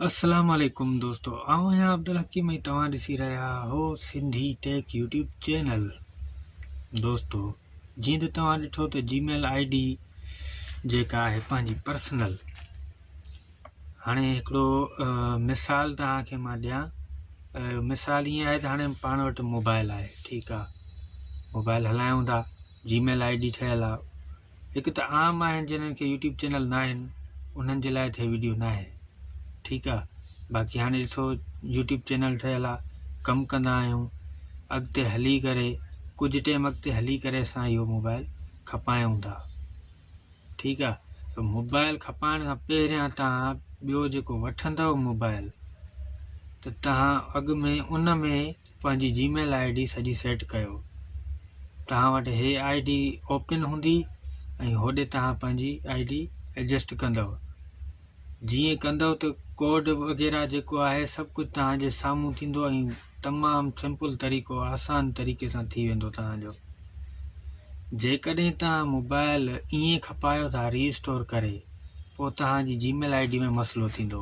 السلام عليڪم دوستو آئون آهيان عبدالحڪيم ۽ توهان ڏسي رهيا آهو سنڌي ٽيڪ يوٽيوب چينل دوستو جيئن ته توهان ڏٺو ته جي ميل آئي ڊي جيڪا آهي پنهنجي پرسنل هاڻي هڪڙو مثال توهان کي مان ڏيان مثال ائين آهي ته هاڻي پاڻ وٽ موبائل آهي ٺيڪ آهي موبائل هلايون ٿا جي ميل آئي ڊي ٺهيل آهي هڪ ته عام آهن جنھن کي يوٽيوب چينل ناهن انھن جي لاء ته هي ويڊيو ناهي ٺيڪ آ باقي هاڻي ڏسو يوٽيوب چينل ٺهيل آ ڪم ڪندا آهيون اڳتي هلي ڪري ڪجهه ٽيم اڳتي هلي ڪري اسان اهو موبائل کپايون ٿا ٺيڪ آ ته موبائل کپائڻ کان پهريان تان ٻيو جيڪو وٺندو موبائل ته تان اڳ ۾ ان ۾ پنهنجي جي ميل آئي ڊي سڄي سيٽ ڪيو توهان وٽ هي آئي ڊي اوپن هوندي ۽ هوڏي توهان پنهنجي آئي ڊي ايڊجسٽ ڪندو جيئن ڪندو ته ڪوڊ وغيره جيڪو آهي سڀ ڪجهه تهانجي سامهون ٿيندو ۽ تمام سمپل طريقو آسان طريقي سان ٿي ويندو تهانجو جيڪڏهن توهان موبائل ائين کپايو ٿا ريسٽور ڪري پوء تهانجي جي ميل آئي ڊي ۾ مسئلو ٿيندو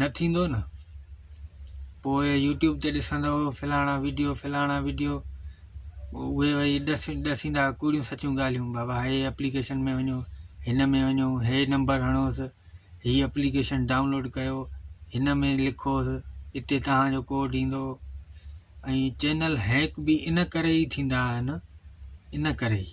نه ٿيندو نه پوء يوٽيوب تي ڏسندو فلاڻا ويڊيو فلاڻا ويڊيو اهي وئي ڏس ڏسيندا ڪوڙيون سچيون ڳالهيون بابا هي اپليڪيشن ۾ وڃو هن ۾ وڃو هي نمبر هڻوسि هي اپليڪيشن ڊائونلوڊ ڪيو هن ۾ لکوسि اتي تهانجو ڪوڊ ايندو ۽ چينل هيڪ به ان ڪري ئي ٿيندا آهن ان ڪري ئي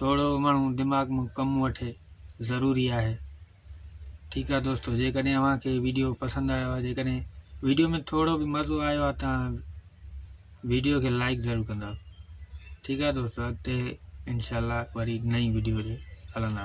ٿورو ماڻهو دماغ مان ڪم وٺي ضروري آهي ٺيڪ آهي دوستو جيڪڏهن اوهان کي ويڊيو پسند آيو آهي جيڪڏهن ويڊيو ۾ ٿورو به مزو آيو آهي تان ويڊيو کي لائڪ ضرور ڪندا ٺيڪ آهي دوستو اڳتي انشاءالله وري نئين ويڊيو تي هلندا